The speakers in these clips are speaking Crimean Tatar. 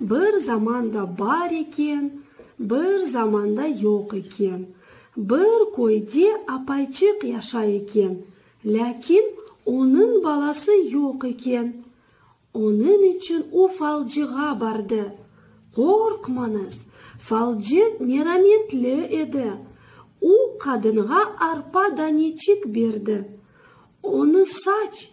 Bir zamanda bar eken, bir zamanda yoq eken. Bir köyde apayçıq yaşay eken, lâkin onıñ balası yoq eken. Onıñ içün o falcığa bardı. Qorqmañız, falcı merametli edi. O qadınğa arpa daneçik berdi. Onı saç.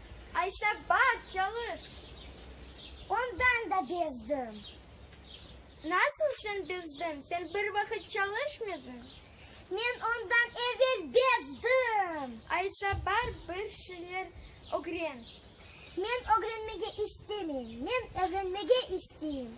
Aysa baq, çalış! Ondan da bezdim. Nasıl sen bezdin? Sen bir vaqıt çalışmedin? Men ondan evel bezdim. Aysa bar, bir şeyler ögren. Men ögrenmege istemeyim. Men ögrenmege isteyim.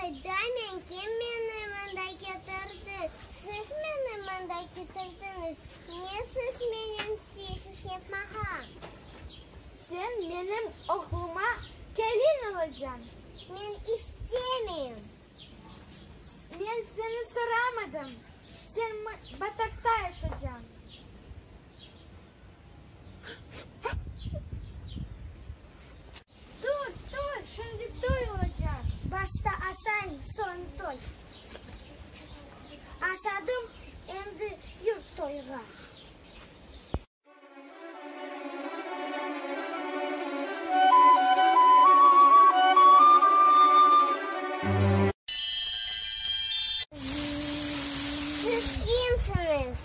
Hayda, men kim? Meni mında ketirdi. Siz meni mında ketirdiñiz. Ne siz menem isteysiz yapmağa? Sen menim oğluma kelin olacañ. Men istemeyim. Men seni soramadım. Sen batakta yaşacañ. Tur, tur, şimdi toy olacaq. Başta aşayım, soñ toy. Aşadım, endi yur toyğa. Siz kimsiniz?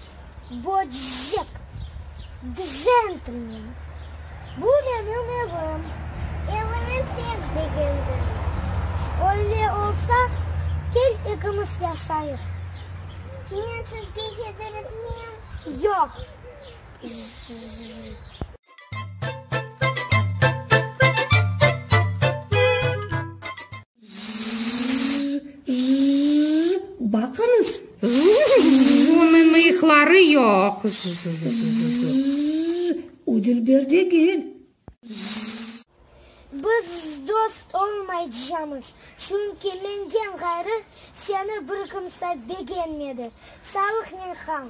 Böcek, djentlmen, bu menim evim. Evini pek begendim. Öyle olsa, kel ikimiz yaşayıq. Men sizge hezir etmeyim. Yoq. J. Baqıñız! Bunıñ mıyıqları yoq! O dülber degil! Biz dost olmaycamız, çünki menden ğayrı seni bir kimse begenmedi. Salihnen Xan.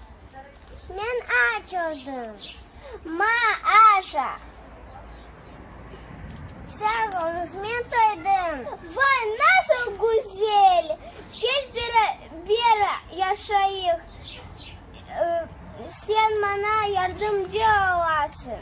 Men aç oldım. Ma-a-şa. Sağ olunız, men toydım. Vay, nasıl güzel! Kel bera-bera yaşayıq. Sen maña yardımcı olasıñ.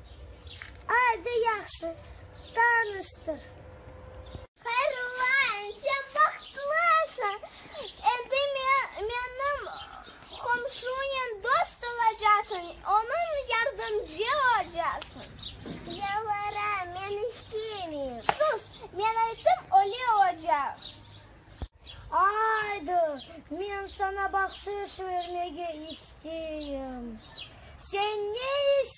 Aydı yahşı tanıştır. Hayrulla ence bahtlısıñ endi menim qomşunen dost olacasıñ onıñ yardımcı ocasıñ. Yalvara men istemeyim. Sus men aytım öyle ocaq. Aydı men sana bahşış vermege isteyim sen ne isteysiñ?